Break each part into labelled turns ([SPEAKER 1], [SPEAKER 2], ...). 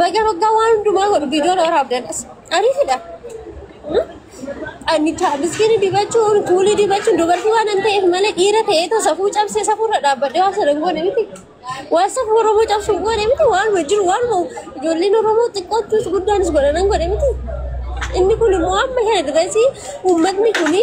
[SPEAKER 1] Baga baga waan hundumaa godhu viidiyoon waraab dandas. Ariifidha. Ani miskiini dibachuun kuulii dibachuun dubartii waan hin ta'eef malee dhiira ta'ee too safuu cabsee safuurra dhaabbadhee waan sana hin goone miti. Waan safuu Oromoo cabsu hin goone miti waan jiru waan ijoolleen Oromoo xiqqootus guddaanis godhanan godhe miti. Inni kun immoo amma kana dirasii uummatni kuni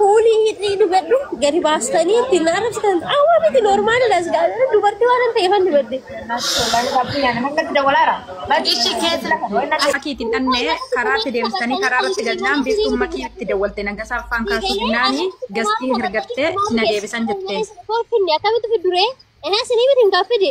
[SPEAKER 1] Kuulii hidhii dubadhu gadi baastanii ittiin na arrabsitan awwa miti noormaali las gaa'ela dubartii waan ta'eef an dubadde.
[SPEAKER 2] Makiitti hin dhabne
[SPEAKER 3] karaatti deemsisanii karaa irratti galnaan biiftuun makii itti dawwalte nagasaa faan kaasuu dinnaanii gastii hirgattee na deebisan jettee. Kolfinni akkamitti
[SPEAKER 1] fidduree? Ehe sinii miti hin gaaffidu.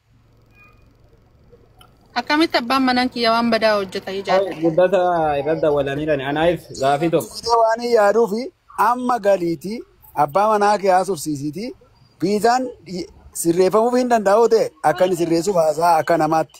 [SPEAKER 2] Akkamitti abbaan manaan kiyya waan badaa hojjeta Ee, ijaadha. guddata irra
[SPEAKER 4] dawwalanirani anaif gaafii tokko Ee, waan hin yaaduu fi
[SPEAKER 5] amma galiitii abbaa manaa kee haasofsiisiitii viizaan sirreeffamuuf hin danda'u ta'e akka inni sirreessuuf haasaa akka namaatti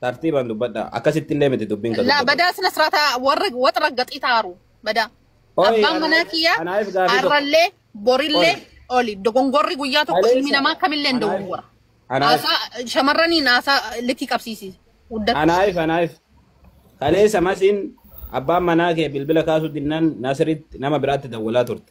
[SPEAKER 6] Tartiibaan dubbadha. Akkasitti illee miti dubbiin kan laa dubbatu. badaa sina siraataa
[SPEAKER 2] warra wax raggaxii taaru badaa Oi, abbaan ana- manaa kiyyaa anaayis gaafii tokko. arrallee borillee Oi. oli dogongorri guyyaa tokko Aleessa. ilmi namaa kamillee hin Anaayis- dogongora anaayis- haasaa shamarraniin haasaa likkii qabsiisi guddatti Anaayif anaayif.
[SPEAKER 6] Kaleessa masiin abbaan manaa kee bilbila kaasuu dinnaan Nasiritti nama biraatti dawwalaa turte.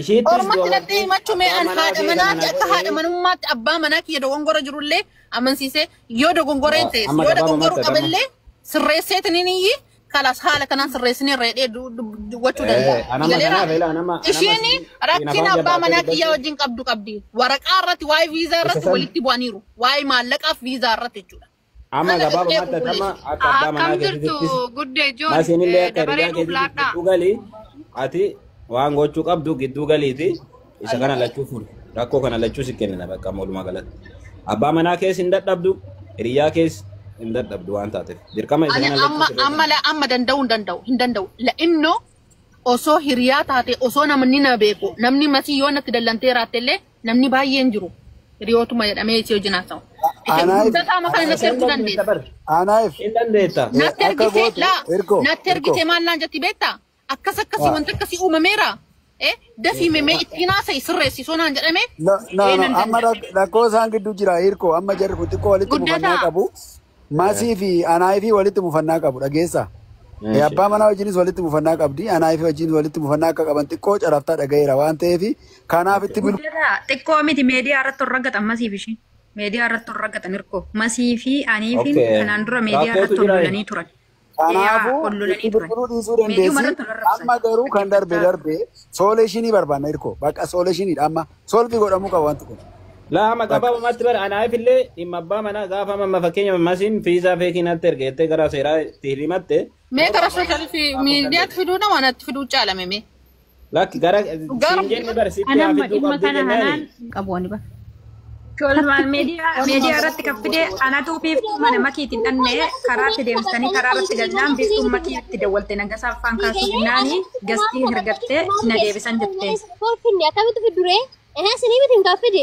[SPEAKER 6] Ishiittis Ormatti
[SPEAKER 2] natti dubartiin himachuu mee abbaa an manaa haadha kee kana manaati akka haadha naqee manummaatti abbaa manaa kiyya dogongora jirullee amansiisee yoo dogongora hin ta'es amma yoo gabaaba dogongoruu matta damma. qaballee sirreesseetiin hin iyyi kalas haala kanaan sirreessinee reedhee du- du- dubbachuu Eh, danda'a. anama Galeera kanaaf ila anama anama ishiin siin siin rakkina afaan abbaa jabaatee manaa kiyyaa dubbachuu wajjin qabdu qabdi. Waraqaa irratti waa'ee viizaa isa irratti san walitti bu'aniiru. Waa'ee maallaqaaf viizaa irratti jechuudha. Amma Naga gabaaba dhufnee
[SPEAKER 6] matta bubbule. damma akka abbaa Akkam manaa jirtu keetiittis guddee joon maasiin
[SPEAKER 2] illee eh, akka dabaree hiriyaa nuuf
[SPEAKER 6] keetiitiif laadhaa. gidduu galii ati waan gochuu qabdu gidduu galiiti isa kana lachuu fuudhe rakkoo kana lachuu si kennina bakka amma walumaa galatti abbaa manaa kees hin dadhabdu hiriyaa kees hin dadhabdu waan taateef dirqama isa Ani kana lachuu amma sirreessa. amma la amma danda'u hin danda'u
[SPEAKER 2] hin danda'u. La innoo osoo hiriyaa taate osoo namni na beeku namni matii yoo natti dallantee raatte illee Namni baay'een jiru. Hiriyootuma jedhamee isii wajjin haasa'u. Ishee Anaaf- guddataa makan Haasa'uu natti erguu dandeessa dandeessa. bar. Anaaf Hin dandeetta. eh, Natti akka ergitee gootu laa ergo natti ergo ergitee maal naan jetti beektaa? Akkas akkasii Ah. wanta akkasii uumameera. Eh, dafii memee ittiin haasa'i sirreessi soo naan jedhame no no ee no nan amma
[SPEAKER 5] danda'a. rak- rakkoo isaan gidduu jira hirko amma jarri kun xiqqoo walitti Guddataa. dhufannaa qabu Eh, Masii fi Anaayifii walitti mufannaa qabu dhageessaa. Eh, Eeshi. Abbaa manaa wajjinis walitti mufannaa qabdi. Anaayifii wajjin walitti mufannaa akka qaban xiqqoo caraftaa dhagayeera waan ta'eef kanaaf Okay. itti bilbila. Guddataa xiqqoo miti meediyaa
[SPEAKER 7] irratti ol raggatan masiif ishii. Meediyaa irratti ol raggatan hirkoo. Masii fi aniifiin Okay. kanaan dura meediyaa Rakkootu irratti ol jira. lolanii turan. Kanaafuu
[SPEAKER 5] itti bilbiluu dhiisuu dandeessi. Amma garuu kan darbe darbe sooleeshinii barbaanna hirkoo. Bakka sooleeshiniidha amma solvi godhamuu qaba wanti kun. Laa amma gabaabumatti
[SPEAKER 6] bara anaaf illee dhimma abbaa manaa gaafa amma fakkeenya masiin fiizaa feekii natti erge jettee gara seeraa itti himatte. Mee gara sooshaal
[SPEAKER 2] miidiyaatti fiduudha waan natti fiduu caalame mee. Lakki gara
[SPEAKER 6] siin Garuu jenne bar sitti Ani haa amma fidduu dhimma qabduu kana jennaani. hanaan hin qabu ani bar.
[SPEAKER 3] Tolmaan
[SPEAKER 7] miidiyaa miidiyaa irratti kan fide anatu biiftuu mana makiitiin dhannee karaatti deemsanii karaa irratti galnaan biiftuun makii itti dawwalte nagasaa faan kaasuu jennaani gastii hergattee na deebisan jettee. Kolfinni akkamitti
[SPEAKER 1] fidduree? Ehe sinii miti hin gaaffidu.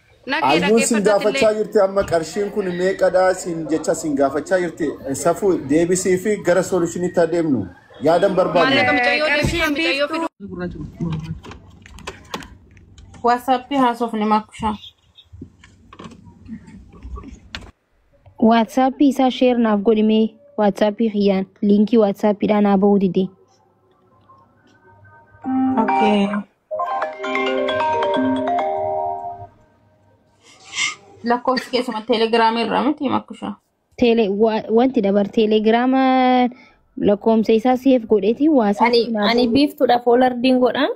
[SPEAKER 8] Nagee Ayyoon
[SPEAKER 9] sin dhaggeeffattati gaafachaa illee. jirti amma qarshiin kun meeqadha sin jecha sin gaafachaa jirti safuu deebisii fi gara soolishinitti adeemnu yaadan barbaadna. Maallaqa micayyoo deebisaa Qarshiin micayyoo biiftuu. fiduu. Gurraacha
[SPEAKER 3] gurraacha. Whatsapp haasofne makushaa.
[SPEAKER 10] Waatsaappii isaa sheer naaf godhi mee waatsaappii kiyyaan liinkii waatsaappiidhaa naa bahuu dide.
[SPEAKER 3] Okay. Lakkoofsi keessuma teelegiraamii irraa miti makkushaa. Teele
[SPEAKER 10] wa- wanti dabar teelegiraama lakkoofsa isaa seef godheeti Ani waasaappi naa ani biiftuudhaaf
[SPEAKER 1] olardiin godhaan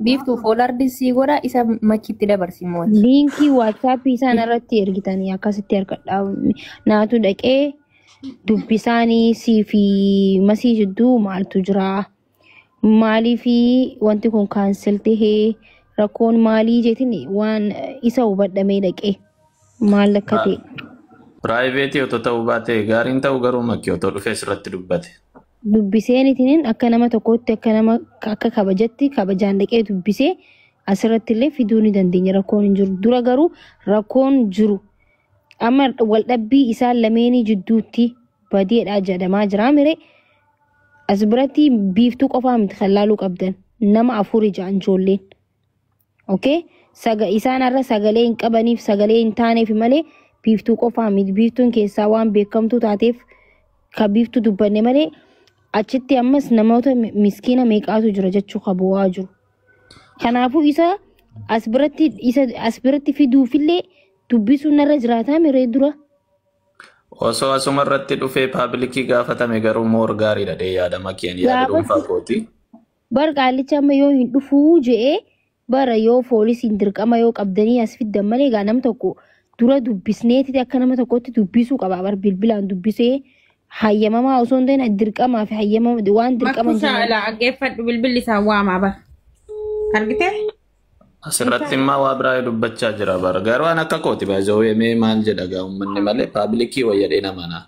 [SPEAKER 1] Biiftuu foolardi sii godha isa machitti dabarsi mooti. Liinkii waatsaappii
[SPEAKER 10] isaan irratti ergitanii akkasitti argadhaa. Naatu dhaqee dubbisaanii sii fi masii jidduu maaltu jira? Maalii fi wanti kun kaansel tahee rakkoon maalii jetin waan isa hubadhamee dhaqee maal akka ta'e. Piraayiveetii
[SPEAKER 11] otoo ta'uu baate gaariin ta'u garuu makki otoo dhufee sirratti dubbate. dubbiseenitiin
[SPEAKER 10] akka nama tokkootti akka nama akka kabajatti kabajaan dhaqee dubbisee asirratti illee fiduu ni dandeenya rakkoon hin jiru dura garuu rakkoon jiru amma waldhabbii isaan lameenii jidduutti badeedhaa jedhamaa jiraa mire as biratti biiftuu qofaa miti kan laaluu qabdan nama afur ijaan ijoolleen. Okay? Saga, isaan har'a sagalee hin qabaniif sagalee hin taaneef malee biiftuu qofaa miti. Biiftuun keessaa waan beekamtuu taateef ka biiftuu dubbanne malee achitti ammas namoota mi- miskiina meeqaatu jira jechuu ka bu'aa jiru. Kanaafuu isa as biratti isa as biratti fiduufillee dubbisuun narra jiraataa miree dura.
[SPEAKER 11] Osoo asuma irratti dhufee paabilikii gaafatame garuu moor gaariidha dee yaadama keen yaada dhuunfaa Gaafatti kooti. Bar qaallichi
[SPEAKER 10] amma yoo hin dhufuu je'e bara yoo foolisiin dirqama yoo qabdanii as fiddan malee egaa nam tokko dura dubbisneetiti akka nama tokkotti dubbisuu qaba bar bilbilaan dubbisee hayyamamaa osoo hin ta'in dirqamaa fi hayyamama waan dirqama Makkuu hin taane- saala dhaggeeffadhu
[SPEAKER 3] bilbilli isaan waamaa bar. Argite?
[SPEAKER 11] Asirratti immaa waa biraa dubbachaa jira bara. Garuu an akka kooti baay'ee mee maal jedha gaa uummanni malee paablikii wayyadhee namanaa.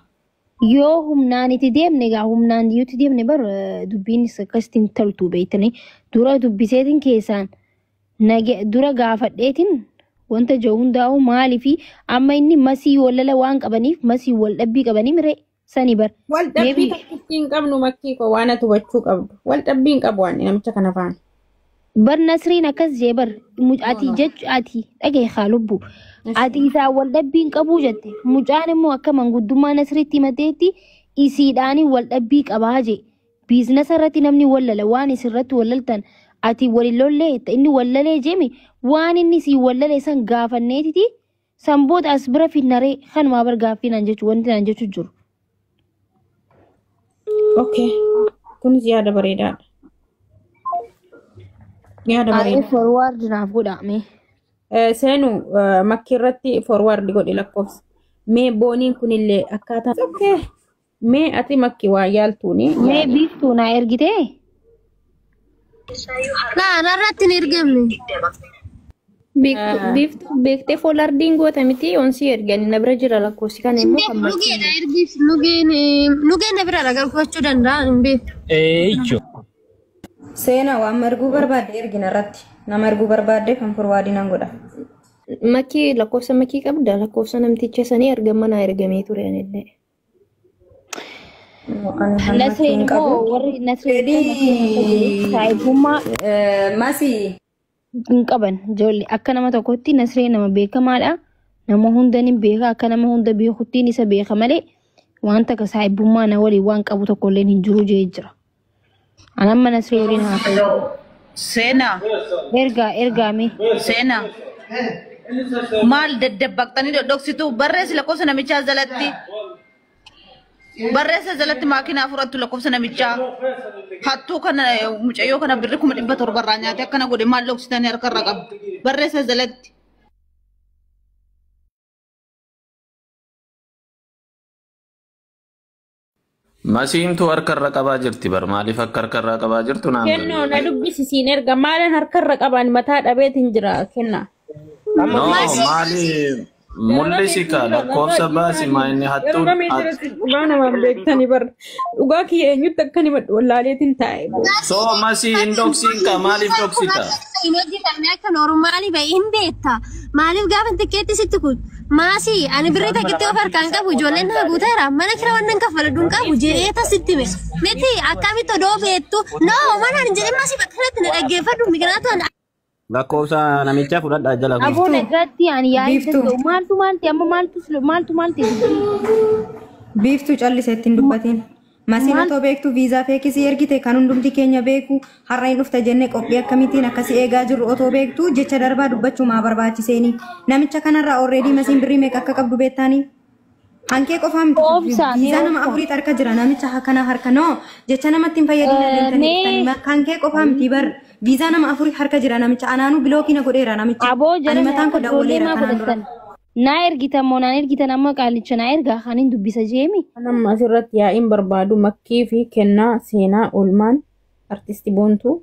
[SPEAKER 11] Yoo
[SPEAKER 10] humnaan itti deemne egaa humnaan yoo itti deemne bar eh, dubbiinis akkasitti hin toltu beektanii dura dubbiseetiin keessaan nage- dura gaafadheetiin wanta jiru hundaa'u maalii fi amma inni masii wallala waan qabaniif masii wal dhabbii qabanii miree sanii bar Wal dhabbii Maybe-
[SPEAKER 3] tokkittii hin qabnu makkii koo waan ati hubachuu qabdu. Wal dhabbii hin qabu waan namicha kana faana. bar
[SPEAKER 10] nasriin akkas jee bar Mu- ati jechu ati dhagahi haa lubbu ati isaa wal dhabbii hin qabuu jette mucaan immoo akka manguddummaa nasriitti himateetti isiidhaanii wal dhabbii qabaa jee biiznasa irratti namni wallala waan isirratti wallaltan ati walilollee jetta inni wallalee jemi waan inni sii wallalee san gaafanneetiti San booda as bira finnaree kanumaa bar gaaffii naan jechu wanti naan jechu jiru.
[SPEAKER 3] Okay. Kunis yaada bareedaadha. Yaada Aayee bareedaa. forwaard naaf
[SPEAKER 10] godhaame. Eh, Seenu
[SPEAKER 3] eh, makkii irratti forward godhi lakkoofsa. Mee booniin kunillee akkaataa. Okay. Mee ati makki waa yaaltuuni Mee yaali. biiftuu naa
[SPEAKER 10] ergitee?
[SPEAKER 1] Naa narratti hin ergamne. Biiftuu Ah.
[SPEAKER 10] biiftuu beektee foolardiin goota miti onsii ergani na bira jira lakkoofsi kana immoo kan makki. Lugeedha ergiif
[SPEAKER 1] lugeen lugeen na biraadha galfachuu danda'a hin beeku. Eeyyo.
[SPEAKER 7] Seenaa waan marguu barbaadde ergina irratti. Nama erguu barbaadde kan forwaadii nan godha. Makki
[SPEAKER 10] lakkoofsa makki qabda lakkoofsa namticha sanii ergamana ergamee ture anillee. Ani hammatti hin Nasreen immoo qabu. warri Nasreen fi Nasreen akka jiru Fedhii saahibummaa eh, masi
[SPEAKER 7] hin
[SPEAKER 10] qaban ijoollee akka nama tokkotti Nasreen nama beekamaadha. Nama hunda ni beeka akka nama hunda beekuttiin isa beeka malee wanta akka saahibummaa na waliin waan qabu tokkolleen hin jiru jee jira. Anan mana si waliin haa ta'u. Seenaa.
[SPEAKER 2] Ergaa
[SPEAKER 10] ergaa mee. Seenaa.
[SPEAKER 2] Maal daddabbaqxanii dhodhoksitu barreessi lakkoofsa namichaa jalatti. Barreessa jalatti maakinaa fudhattu lakkoofsa namichaa. Hattuu kana eh, mucayyoo kana birri kuma dhibba torba irraa nyaate akkana godhe maal dhoksitanii harka irra qabdu. Barreessa jalatti.
[SPEAKER 11] Masiintu harka irra qabaa jirti bar maaliif akka harka irraa qabaa jirtu naan Kennoo na galee. dubbisi siin
[SPEAKER 3] erga maalan harkarra qabaan mataa dhabeetiin jira kenna. Amma No
[SPEAKER 11] Mas- dubbisi. maali mul'isi kaa lakkoofsa baasi maa inni hattuun hat- Dhugaa namaan
[SPEAKER 3] beektanii bar. Dhugaa kiyya eenyutti akkan himadhu wallaaleetiin taa'e. so masii
[SPEAKER 11] hin dhoksiin kaa maaliif dhoksita? Imeejii qabne
[SPEAKER 1] akka noormaali ba'e hin beekta. Maaliif gaafa xiqqeetti sitti kun? Maasi ani birrii takkitti of harkaan qabu ijoolleen naa guuteera mana kira waan nan kaffaladhu hin qabu jedhee tasitti me miti akkamitti odoo beektu noo mana hin jedhin maasi bakka kanatti na dhaggeeffadhu migraatu an Lakkoofsa
[SPEAKER 6] namichaa fudhadhaa jala kun. Aboo nagaatti ani yaa'ii
[SPEAKER 10] Biiftuu. danda'u. Maaltu maalti amma maaltu maaltu maalti?
[SPEAKER 7] Biiftuu calliseetti hin dubbatiin. Masiin Maal? otoo beektu viizaa feekii si ergite kan hundumti keenya beeku har'a hin dhufta jenne qophii akkamitiin akka si eegaa jirru otoo beektu jecha darbaa dubbachuu maa barbaachiseeni namicha kanarraa orreedii masiin birrii meeqa akka qabdu beektaanii hankee qofaa miti Obsa, mee viizaa nama obsa. afurii harka jira namicha ha- kana harka noo jecha namatti hin fayyadina Eh, deemtanii mee- dhuftanii ma- hankee qofaa miti bar viizaa nama afurii harka jira namicha anaanuu bilookiina godheera namicha Aboo ani jara mataan koo daawwaleera kanaan dura. godhatan. Naa ergitan
[SPEAKER 10] moo naan ergitan amma qaalicha naa ergaa kan hin dubbisa jeemi. Kan amma asirratti
[SPEAKER 3] yaa'iin barbaadu makkii fi kennaa seenaa oolmaan artisti boontuu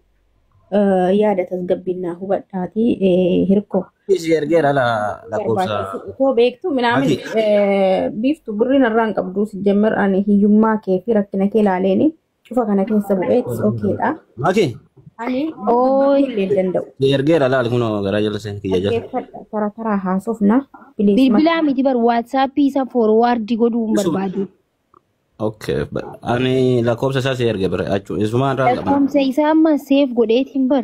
[SPEAKER 3] eh, yaada tasgabbiin naa hubadhaatii eh, hirkoo. Ishii ergeera ala
[SPEAKER 6] lakkoofsa. barbaachisu otoo beektu
[SPEAKER 3] minaamin Mati. eh, biiftu birriin irraa hin qabdu sijjammer ani hiyyummaa kee fi rakkina kee laaleeni cufa kana keessa bu'ee it's okay dha. Maki
[SPEAKER 6] Ani
[SPEAKER 3] Ooy. illee hin danda'u. si ergeera laal kunoo
[SPEAKER 6] garaa jala seen kiyya jala. Dhaggeeffadha tara taraa
[SPEAKER 3] haasofna. Bilisummaa Bilbilaa
[SPEAKER 10] miti bar waatsaappii isa foorwaardii godhuu hin Isuma. barbaadu. Okay.
[SPEAKER 6] ba- Ani lakkoofsa isaa si erge bira achuu isumaan irraa hin qabna. Lakkoofsa isaa amma
[SPEAKER 10] seef godheetiin bar.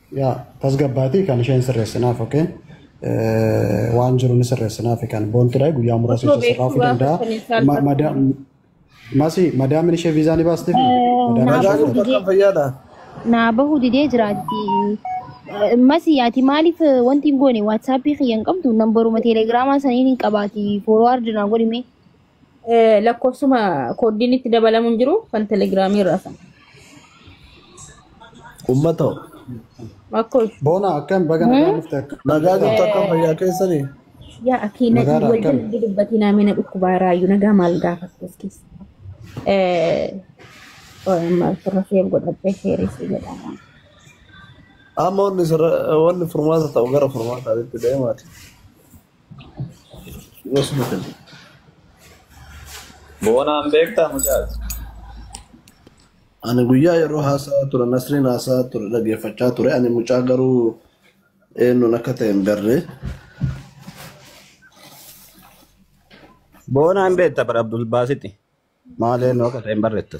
[SPEAKER 7] Yaa tasgabbaatii
[SPEAKER 12] kan isheen sirreessinaaf okee waan jiru ni sirreessinaaf kan boontidha guyyaa muraasa Osoo ishee sirraafuu beektuu gaafa danda'a. sanii isaan Ma- qabdu. mada- Masi madaamin ishee viizaa ni baastiif Eh, madaamin naa ishee Madaan bahu viizaa didee bakka fayyaadha.
[SPEAKER 10] naa bahu didee jiraatti. Eh, Masi ati maaliif eh, wanti hin goone waatsaappii kiyya hin qabdu nambaruma teelegiraamaa saniin hin qabaati foorwaardi naa godhime. Eh,
[SPEAKER 3] Lakkoofsuma kooddiin itti dabalamu hin jiru kan telegiraamii irraa sana.
[SPEAKER 13] Ummata hoo?
[SPEAKER 3] Akkoo Boona akkam
[SPEAKER 12] baga nagaa Hmm? dhufte akkam Nagaa jirtu jirta? akkam fayyaa
[SPEAKER 13] keessanii? yaa akii na
[SPEAKER 3] Nagaadha wal akkam? jalatti dubbatii naamee na dhukkubaa raayyuu nagaa maal gaafatu as keessa. Eh, oh, amma ofirra seef godhadhee seeressi jedhama.
[SPEAKER 13] Amma wanni sirra- wanni furmaata ta'u gara furmaataatti deemaati.
[SPEAKER 11] Boonaan beektaa mucaas.
[SPEAKER 13] Ani guyyaa yeroo haasaa ture nasriin haasaa ture dhaggeeffachaa ture ani mucaa garuu eenyuun akka ta'e hin beekne.
[SPEAKER 6] Boonaan beekta bara Abdul Baasiti. Maal eenyu akka ta'e hin beekne.